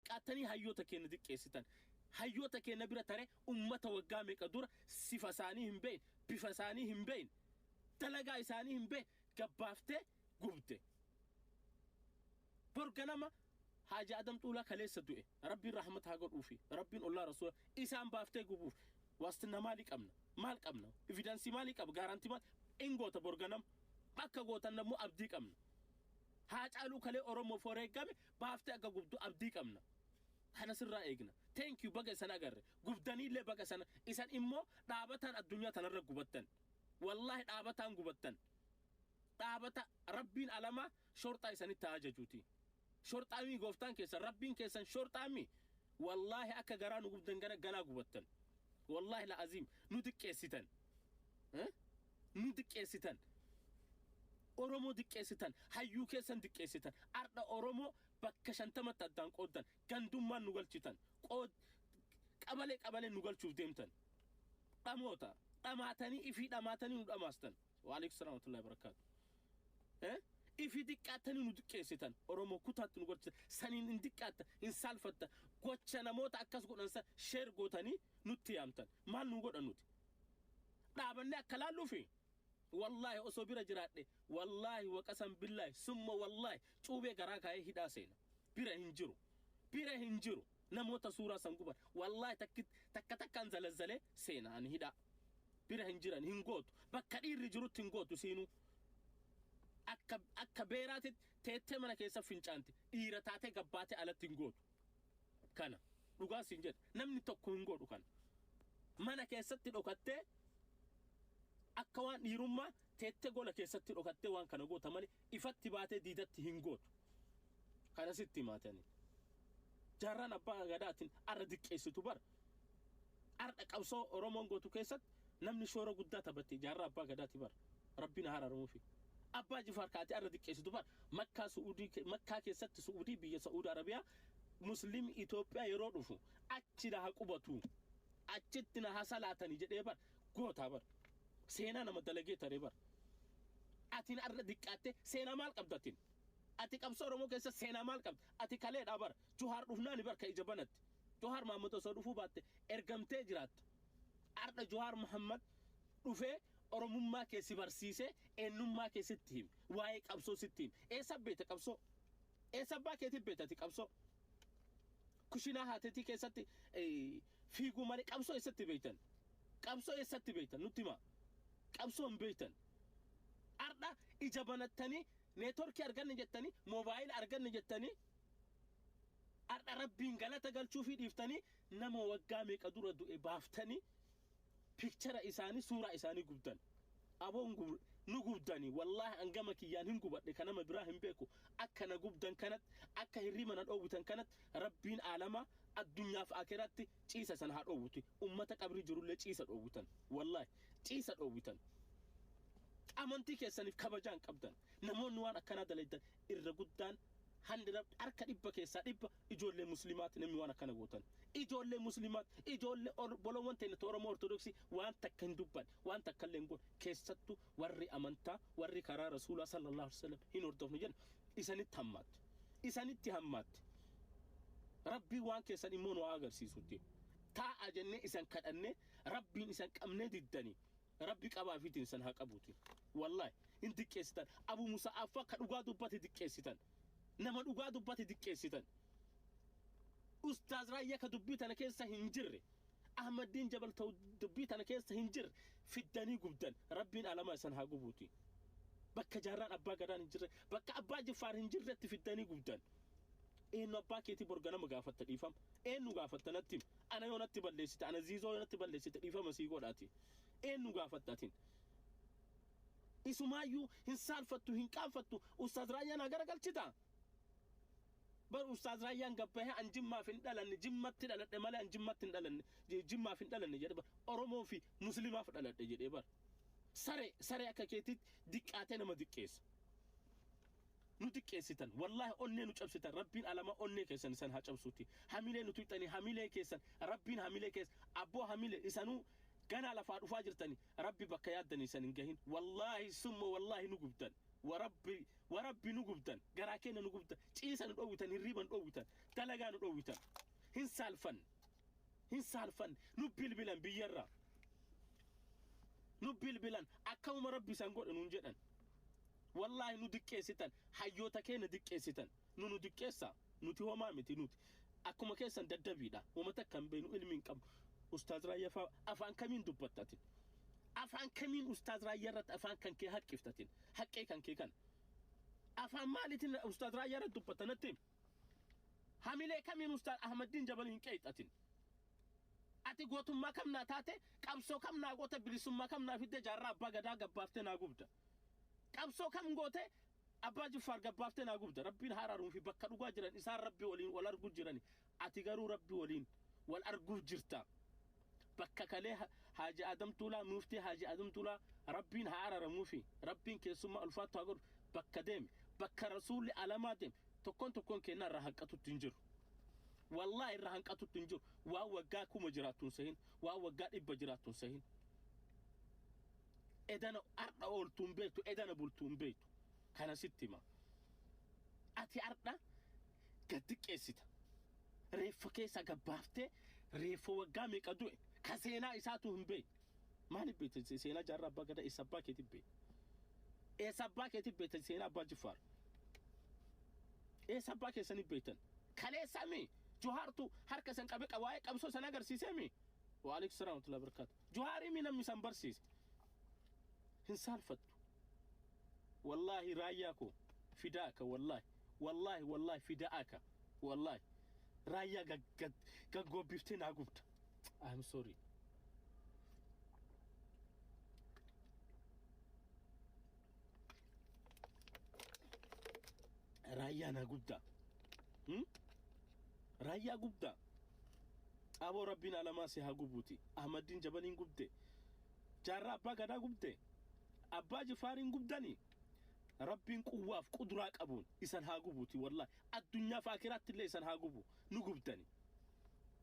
qattanii hayyoota keenna diqqeessitan. Hayyoota keenna bira tare ummata waggaa meeqa dura sifa isaanii hin beeyne, bifa isaanii hin beeyne, dalagaa isaanii hin beeyne gabbaaftee gubde. Bor ganama Haaji Adam Xuulaa kaleessa du'e, Rabbiin rahmata haa godhuufi, Rabbiin ollaa Rasuula, isaan baaftee gubuuf waastinna maalii qabna? Maal qabna? Evidence maalii qaba? Guarantee maal? In goota bor ganama. Akka gootan ammoo abdii qabna. Haacaaluu kalee Oromoof wareeggame baaftee akka gubdu abdii qabna kana sirraa eegna thank you baga isan agarre gubdaniillee baga sana isan immoo dhaabataan addunyaa tanarra gubattan wallaahi dhaabataan gubattan dhaabata rabbiin alamaa shorxaa isanitti haa ajajuuti shorxaamii gooftaan keessan rabbiin keessan shorxaamii wallaahi akka garaa nu gubdan gana ganaa gubattan wallaahi la aziim nu xiqqeessitan Eh? nu diqqeessitan Oromoo diqqeessitan hayyuu keessan diqqeessitan ardha Oromoo bakka shantamatti addaan qooddan gandummaan nu galchitan qood qabalee qabalee nu galchuuf deemtan dhamoota dhamaatanii ifii dhamaatanii nu dhamaastan waalaikum salaam warahmatullahi wabarakatuh Eh? ifi diqqaattanii nu diqqeessitan oromoo kutaatti nu gochitan saniin hin diqqaatta hin saalfatta gocha namoota akkas godhan san sheer gootanii nutti yaamtan maal nu godhan nuti dhaabannee akka laalluufi wallaahi osoo bira jiraadhe wallaahi waqasan billaahi summa wallaahi cuubee garaa kaa'ee hidhaa seena bira hin jiru bira hin jiru namoota suuraa san guban wallaahi takki- takka takkaan zalazzalee seena ani hidhaa bira hin jiran hin gootu bakka dhiirri jirutti hin gootu siinuu akka akka beeraatitti teettee mana keessa fincaanti dhiira taatee gabbaatee alatti hin gootu kana dhugaa siin jedha namni tokko hin godhu kana mana keessatti dhokattee akka waan dhiirummaa teettee gola keessatti dhokattee waan kana goota malee ifatti baatee diidatti hin gootu kana sitti himaatanii jaarraan abbaa gadaatiin arra diqqeessitu bara Ardha qabsoo oromoon gootu keessat namni shoora guddaa tabatte jaarraa abbaa gadaati bar rabbiin haa araramufi abbaa jifaar ka ati arra diqqeesitu bar makkaa su'udii makkaa keessatti su'udii biyya sa'uud arabiyaa muslim itoophiyaa yeroo dhufu achi na ha qubatu achitti na ha salaatani jedhee bar gootaa bar seenaa nama dalagee taree bar atin arra diqqaatte seenaa maal qabdatin ati qabsoo oromoo keessa seenaa maal qabda ati kaleedhaa bar juhaar dhufnaani bar ka ija banatti Johaar Mahaammad osoo dhufuu baatte ergamtee jiraatta. Ardha Johaar Mahaammad dhufee Oromummaa kee si barsiisee eennummaa kee sitti hime. Waa'ee qabsoo sitti hime. Eessa beekta qabsoo? Eessa abbaa keetii beekta ati qabsoo? Kushinaa haateetii keessatti fiiguu malee qabsoo eessatti beektan? Qabsoo eessatti beektan nutti himaa? Qabsoo hin beektan. Ardha ija banattanii neetworkii arganne jettanii moobaayila arganne jettanii Ardha rabbiin galata galchuufii dhiiftanii nama waggaa meeqa dura du'e baaftanii picture isaanii suuraa isaanii gubdan aboo nu gubdanii wallahi an gama kiyyaan hin gubadhe ka nama biraa hin beeku akka na gubdan kanatti akka hirriba na dhoowwitan kanatti rabbiin aalamaa addunyaaf akiraatti ciisa san haa dhoowwuti ummata qabrii jirullee ciisa dhoowwitan wallahi ciisa dhoowwitan amantii keessaniif kabajaan qabdan namoonni waan akkanaa dalaydan irra guddaan 100 harka dhibba keessaa dhibba ijoollee muslimaati namni waan akkana gootan ijoollee muslimaati ijoollee obboloowwan teenya ta oromoo ortodoksii waan takka hin dubban waan takka illee hin goon keessattu warri amantaa warri karaa rasuulaa sallallahu alaihi wasallam hin hordofnu jenna isanitti hammaatti isanitti hammaatti rabbii waan keessan immoo nu haa agarsiisutti taa'a jennee isan kadhannee rabbiin isan qabnee diddanii Rabbi qaba afiitiin isan haa qabuuti. Wallahi hin diqqeessitan. Abu Musa'affaa ka dhugaa dubbate diqqeessitan. Nama dhugaa dubbate diqqeessitan. Ustaaz Raayyaa ka dubbii tana keessa hin jirre. Ahmaddiin Jabal ta'u dubbii tana keessa hin jirre. Fiddanii gubdan. Rabbiin alamaa isan haa gubuuti. Bakka jaarraan abbaa gadaan hin jirre, bakka abbaa jiffaar hin jirretti fiddanii gubdan. Eennu abbaa keetii bor ganama gaafatta dhiifama? Eennu gaafatta natti himi? Ana yoo natti balleessite, ana Ziizoo yoo natti balleessite dhiifama sii godha ati? Eennu gaafatta atin? Isumaayyuu hin saalfattu, hin qaanfattu, Ustaaz Raayyaa naa garagalchitaa? Bar Ustaaz Raayyaan gad bahee an Jimmaaf hin dhalanne, Jimmatti dhaladhe malee an Jimmatti hin dhalanne, Jimmaaf hin dhalanne jedhe bar. Oromoo fi Muslimaaf dhaladhe jedhee bar. Saree, saree akka keetiitti diqqaatee nama diqqeessa. Nu xiqqeessitan wallahi onnee nu cabsitan rabbiin alama onnee keessan isan haa cabsuuti hamilee nu tuyxanii hamilee keessan rabbiin hamilee keessa abboo hamile isanuu ganaa lafaa dhufaa jirtani rabbi bakka yaaddani isan hin gahin wallahi summa wallahi nu gubdan warabbi warabbi nu gubdan garaa keenya nu gubda ciisa nu dhowwitan hirriiba nu dhowwitan dalagaa nu dhowwitan hin saalfan hin saalfan nu bilbilan biyyarra nu bilbilan akkamuma rabbi isan godhe nuun jedhan Wallaahi nu diqqeessitan hayyoota keenya diqqeessitan nu nu diqqeessa nuti homaa miti nuti akkuma keessan daddabiidha wama takka hin beeknu ilmi hin qabnu ustaaz raayyaa faa afaan kamiin dubbatta ati afaan kamiin ustaaz raayyaa irratti afaan kan kee haqqifta ati haqqee kan kee kan afaan maaliitiin ustaaz raayyaa irratti dubbatta natti himi? hamilee kamiin ustaaz ahmaddiin jabal hin qeexatin ati gootummaa kam naa taate qabsoo kam naa goota bilisummaa kam naa fidde jaarraa abbaa gadaa gabbaartee naa gubda Qabsoo kam gootee Abbaa Jiffaar gad baaftee naa gubda. Rabbiin haa araaruu fi bakka dhugaa jiran isaan Rabbi waliin wal arguu jirani. Ati garuu Rabbi waliin wal arguu jirta. Bakka kalee Haaji Adam Tuulaa, Muuftii Haaji Adam Tuulaa Rabbiin haa araramuu fi Rabbiin keessummaa ulfaattu haa godhu. Bakka deemi. Bakka Rasuulli alamaa deemi. Tokkoon tokkoon keennaa irraa hanqatutti hin jiru. Wallaahi irraa hanqatutti hin jiru. Waan waggaa kuma jiraattu hin sehin. Waan waggaa dhibba jiraattu hin sehin. Edana ardha ooltu hin beektu, edana bultu hin beektu. Kana sitti hima. Ati ardha gad xiqqeessita. Reeffa keessa gad baaftee reeffa waggaa meeqa du'e ka seenaa isaatu hin beekne. Maaliif beekta se- seenaa jaarraa abbaa gadaa eessa abbaa keetii beekta? Eessa abbaa keetii beekta seenaa abbaa jiffaar? Eessa abbaa keessanii beektan? Kaleessa mi? Johaartu harka isan qabe qa- waa'ee qabsoo san agarsiisee mi? Waalaikum salaam wa rahmatullahi wa barakaatu. Johaarimii namni san barsiise hin saalfattu. Wallaahi raayyaa koo fidaaka wallaahi wallaahi wallaahi fidaaka wallaahi raayyaa gaggoobbifte naa gubda. I'm sorry. Raayyaa naa gubda. Hmm? Raayyaa gubda. Xaaboo rabbiin alamaa si haa gubuuti ahmaddiin jabaliin gubde jaarraa abbaa gadaa gubde abbaa jifaariin gubdani rabbiin quwwaaf quduraa qabuun isan haa gubuuti wallahi addunyaaf aakiraattillee isan haa gubu nu gubdani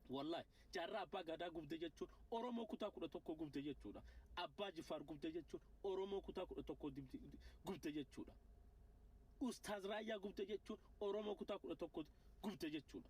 wallahi jaarraa abbaa gadaa gubde jechuun oromoo kutaa kudha tokkoo gubde jechuudha abbaa jifaar gubde jechuun oromoo kutaa kudha tokkoo gubde jechuudha ustaaz raayyaa gubde jechuun oromoo kutaa kudha tokkoo gubde jechuudha.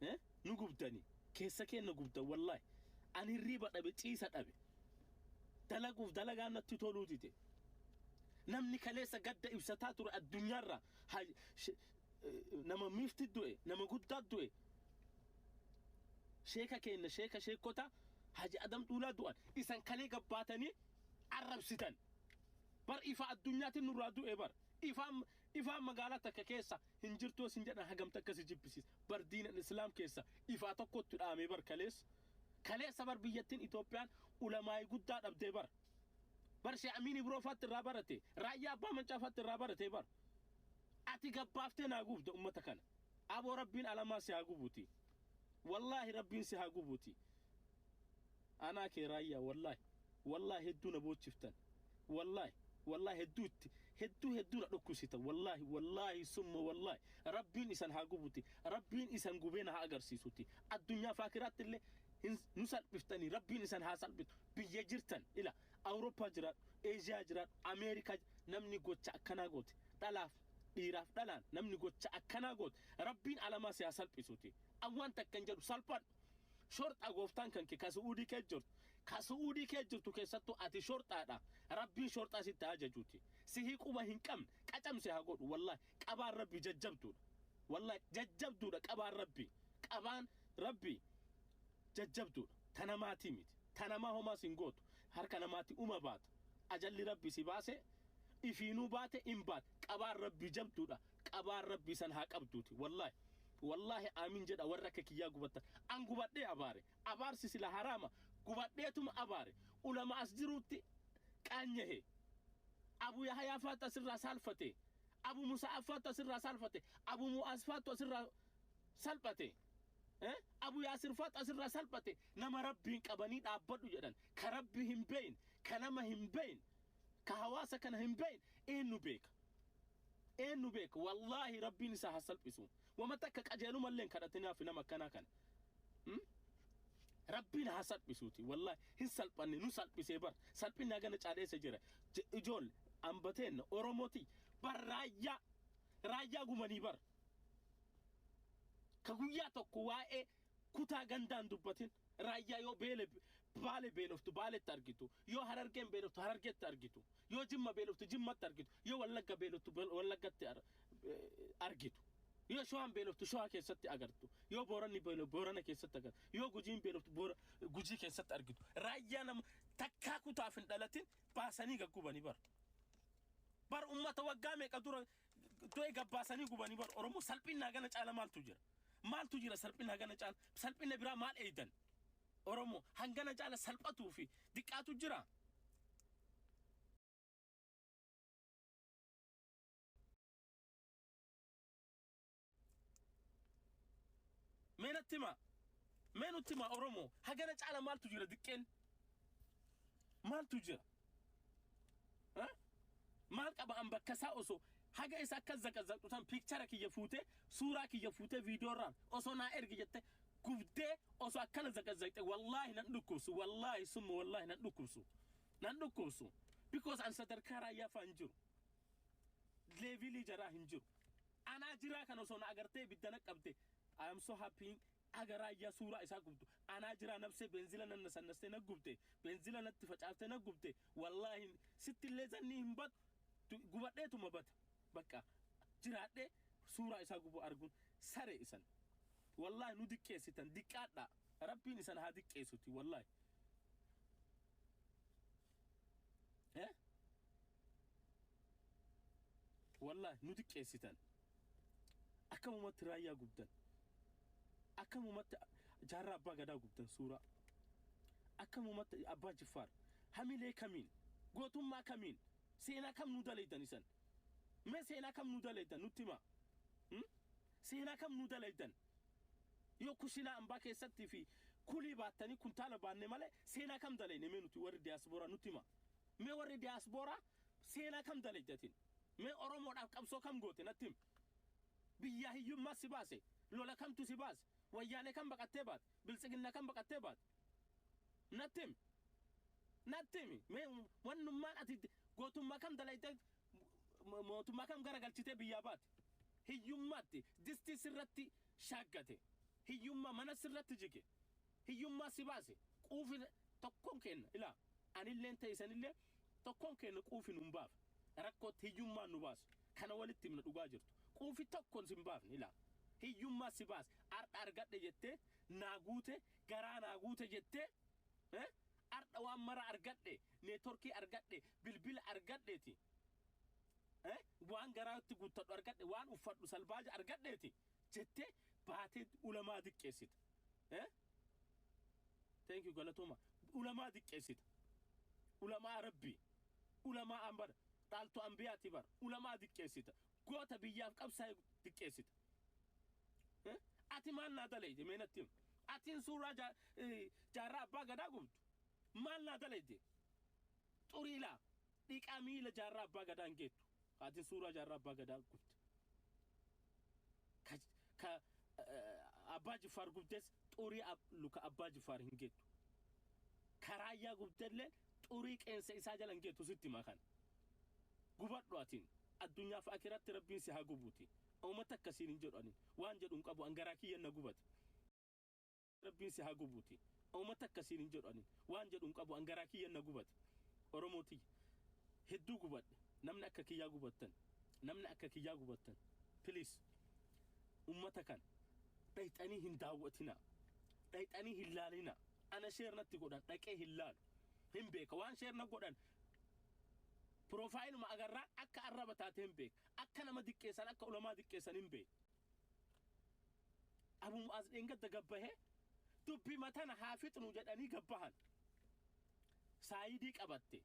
Eh? Nu gubdani. Keessa keenna gubdan wallahi. Ani hirriiba dhabe ciisa dhabe. Dalaguuf dalagaan natti toluu dide. Namni kaleessa gadda ibsataa ture addunyaarraa ha- she- eh, nama miifti du'e, nama guddaa du'e, sheeka keenna sheeka sheekota haji adam dhuulaa du'an isan kalee gabbaatanii arrabsitan. Bar ifaa addunyaatiin nurraa du'e bar. Ifaan ifaan magaalaa takka keessa hin jirtuu sin jedhan hagam takka si jibbisiis bar diinan islaam keessa ifaa tokkottu dhaamee bar kaleessa kaleessa bar biyyattin itoophiyaan ulamaa'i guddaa dhabdee bar bar shee amiin ibroo faatti irraa barate raayyaa abbaa mancaa faatti irraa baratee bar ati gabbaaftee naa gubda ummata kana aboo rabbiin alamaa si haa gubuti wallaahi rabbiin si haa gubuti Anaa kee raayyaa wallahi wallahi hedduu na boochiftan wallahi wallahi hedduu itti hedduu hedduu na dhukkubsitan wallahi wallahi summa wallahi rabbiin isan haa gubuti rabbiin isan gubee na haa agarsiisuti addunyaa fi akiraatti illee hin nu salphiftanii rabbiin isan haa salphitu biyya jirtan ila awurooppaa jiraadhu eeshiyaa jiraadhu ameerikaa ji- namni gocha akkanaa goote dhalaaf dhiiraaf dhalaan namni gocha akkanaa goote rabbiin alamaa si haa salphisuti awwaan takkan jedhu salphan Shorxaa gooftaan kanke ka su'uudii kee jirtu ka su'uudii kee jirtu keessattuu ati shorxaadha rabbiin shorxaa sitti haa jajuuti sihi quba hin qabne qacamse haa godhu wallaahi qabaan rabbi jajjabduudha wallaahi jajjabduudha qabaan rabbi qabaan rabbi jajjabduudha ta namaatii miti ta namaa homaa sin gootu harka namaatti uma baata ajalli rabbi si baase ifiinuu baate in baate qabaan rabbi jabduudha qabaan rabbii san haa qabduuti wallahi wallahi aamin jedha warra akka kiyyaa gubattan an gubadhee abaare abaarsi sila haraama gubadheetuma abaare ulama as jiruutti qaanyahe abu yahayaa faatu asirraa saalfate abu musa'aaf faatu asirraa saalfate abu mu'aas faatu asirraa salphate Eh? abu yaasir faatu asirraa salphate nama rabbiin qabanii dhaabbadhu jedhan ka rabbi hin beeyin ka nama hin beeyin ka hawaasa kana hin beeyin eenyu beeka Eennu beeka wallaahi rabbiin isaa ha salphisu wama takka qajeelumallee hin kadhatinaaf nama akkanaa kana mm rabbiin ha salphisuuti wallaahi hin salphanne nu salphisee bar salphinni hagana caale eessa jira Je- ijool amba teenna oromoti bar raayyaa raayyaa gumanii bar ka guyyaa tokko waa'ee Kutaa gandaa hin dubbatin. Raayyaa yoo beele Baale beeloftu Baaletti argitu. Yoo Harargeen beeloftu Harargeetti argitu. Yoo Jimma beeloftu Jimmatti argitu. Yoo Wallagga beeloftu Wallaggatti argitu. Yoo Shawaan beeloftu Shawaa keessatti agartu. Yoo Booranni beeloftu Boorana keessatti agartu. Yoo Gujiin beeloftu Gujii keessatti argitu. Raayyaa nama takkaa kutaaf hin dhalatin baasanii gaggubani bar. Bar ummata waggaa meeqa dura Do'e gabbaasanii gubanii bar Oromoo salphinna hagana caala maaltu jira? Maaltu jira salphinna hagana caala? Salphinna biraa maal eeydan? Oromoo hangana caala salphatuu fi diqqaatu jira? Mee natti himaa. Mee nutti himaa Oromoo. Hagana caala maaltu jira diqqeen? Maaltu jira? Ha? Maal qaba an bakka isaa osoo haga isa akka zaqazaqxu tan piikchara kiyya fuutee suuraa kiyya fuutee viidiyoorraan osoo naa ergi jette gubdee osoo akkana zaqazaqxe wallaahi nan dhukkubsu wallaahi summa wallaahi nan dhukkubsu nan dhukkubsu because an sadarkaa raayyaa fa'aa hin jiru leevilii jaraa hin jiru Anaa jiraa kan osoo na agartee ibidda naqqabde I am so happy Aga raayyaa suuraa isaa gubdu anaa jiraa nabsee beenzila nanna sannastee naggubde beenzila natti facaaftee naggubde wallaahi sitti illee zannii hin bad du gubadheetuma bada baqqa jiraadhee suuraa isaa gubuu arguun saree isan wallaahi nu diqqeessitan diqqaadhaa rabbiin isan haa diqqeessuti wallaahi. Eh? Wallahi nu xiqqeessitan. Akkamumatti raayyaa gubdan. Akkamumatti jaarraa abbaa gadaa gubdan suuraa. Akkamumatti abbaa jiffaar. Hamilee kamiin? Gootummaa kamiin? Seenaa kam nu dalaydan isan? Mee seenaa kam nu dalaydan nutti himaa? Hmm? Seenaa kam nu dalaydan? Yoo kushiinaa ambaa keessatti fi kulii baattanii kuntaala baanne malee seenaa kam dalayne mee nuti warri diaspora nutti himaa. Mee warri diaspora seenaa kam dalayde atin? Mee Oromoodhaaf qabsoo kam goote natti himi. Biyyaa hiyyummaa si baase lola kamtu si baase wayyaanee kam baqattee baate biltsiginna kam baqattee baate. Natti himi. Natti himi. Mee wannummaan ati gootummaa kam dalaytee mootummaa kam garagalchitee biyyaa baate. Hiyyummaatti distii sirratti shaaggate. Hiyyummaa mana sirratti jige. Hiyyummaa si baase. Quufi tokkoon keenna ilaa anilleen ta'e isanillee tokkoon keenna quufi nun baafa. Rakkootti hiyyummaan nu baase. Kana walitti himna dhugaa jirtu. Quufi tokkoon sin baafne ilaa. Hiyyummaa si baase. Har'a argadhe jettee naa guute garaa naa guute jettee eh? ardha waan mara argadhe neetworkii argadhe bilbila argadheeti eh? waan garaatti guuttadhu argadhe waan uffadhu salbaaja argadheeti jettee baatee ulamaa diqqeessita eh? thank you galatooma ulamaa diqqeessita ulamaa rabbii ulamaa an bar dhaaltu anbiyaati bar ulamaa diqqeessita goota biyyaaf qabsaa'e diqqeessita Eh? Ati maal naa dalayde mee natti himi. Atiin suuraa jaa- eh, jaarraa abbaa gadaa gubdu maal naa dalayde? Xurii laa dhiqaa miila jaarraa abbaa gadaa hin geettu. Atiin suuraa jaarraa abbaa gadaa gubde. Ka, ka eh, abbaa jiffaar gubdes xurii ab, luka abbaa jiffaar hin geettu. Ka raayyaa gubdellee xurii qeensa isaa jala hin geettu sitti himaa kana. gubadhu atiin addunyaaf akiratti rabbiin si haa gubuuti Homa takka siin hin jedhu ani. Waan jedhu hin qabu an garaa kiyyan na gubate. Rabbiin si haa gubuti. Homa takka siin hin jedhu ani. Waan jedhu hin qabu an garaa kiyyan na gubate. Oromoo tiyya. Hedduu gubadhe. Namni akka kiyyaa gubattan. Namni akka kiyyaa gubattan. Please. Ummata kana. Dhayxanii hin daawwatinaa. Dhayxanii hin laalinaa. Ana share natti godhan dhaqee hin laalu. Hin beeka. Waan share na godhan Piroofaayiluma agarraan akka arraba taate hin beeka. Akka nama diqqeessan akka ulamaa diqqeessan hin beeku. Abu Mu'aaz dheengadda gabbahee dubbima tana haa fixnu jedhanii gabbahan. Saayidii qabatte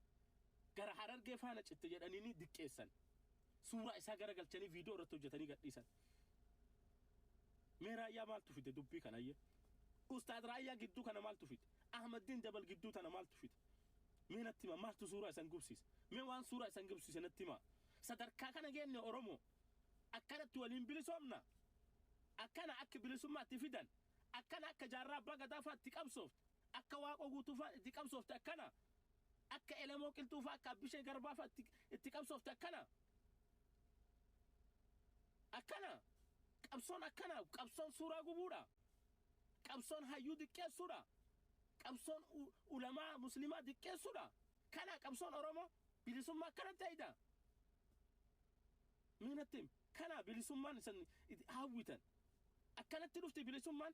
gara harargee faana citte jedhanii diqqeessan. Suuraa isaa garagalchanii viidiyoo irratti hojjetanii gadhiisan. Mee raayyaa maaltu fide dubbii kana ayyee? Ustaad raayyaa gidduu kana maaltu fide? Ahmaddiin Jabal gidduu tana maaltu fide? Mee natti himaa maaltu suuraa isan gubsiise? Mee waan suuraa isan gubsiise natti himaa? Sadarkaa kana geenne Oromoo? Akkanatti waliin bilisoomna? Akkana akka bilisummaa itti fidan? Akkana akka Jaarraa Abbaa Gadaa faa itti qabsoofte? Akka Waaqoo Guutuu faa itti qabsoofte akkana? Akka Elemoo Qilxuu faa akka Abbishee Garbaa faa itti itti qabsoofte akkana? Akkana? Qabsoon akkana? Qabsoon suuraa gubuudha? Qabsoon hayyuu diqqeessuudha? Qabsoon ulamaa muslimaa diqqeessuudha? Kanaa qabsoon Oromoo? Bilisummaa akkanatti hayda? Mee natti himi. Kanaa bilisummaan isin hawwitan? Akkanatti dhufti bilisummaan?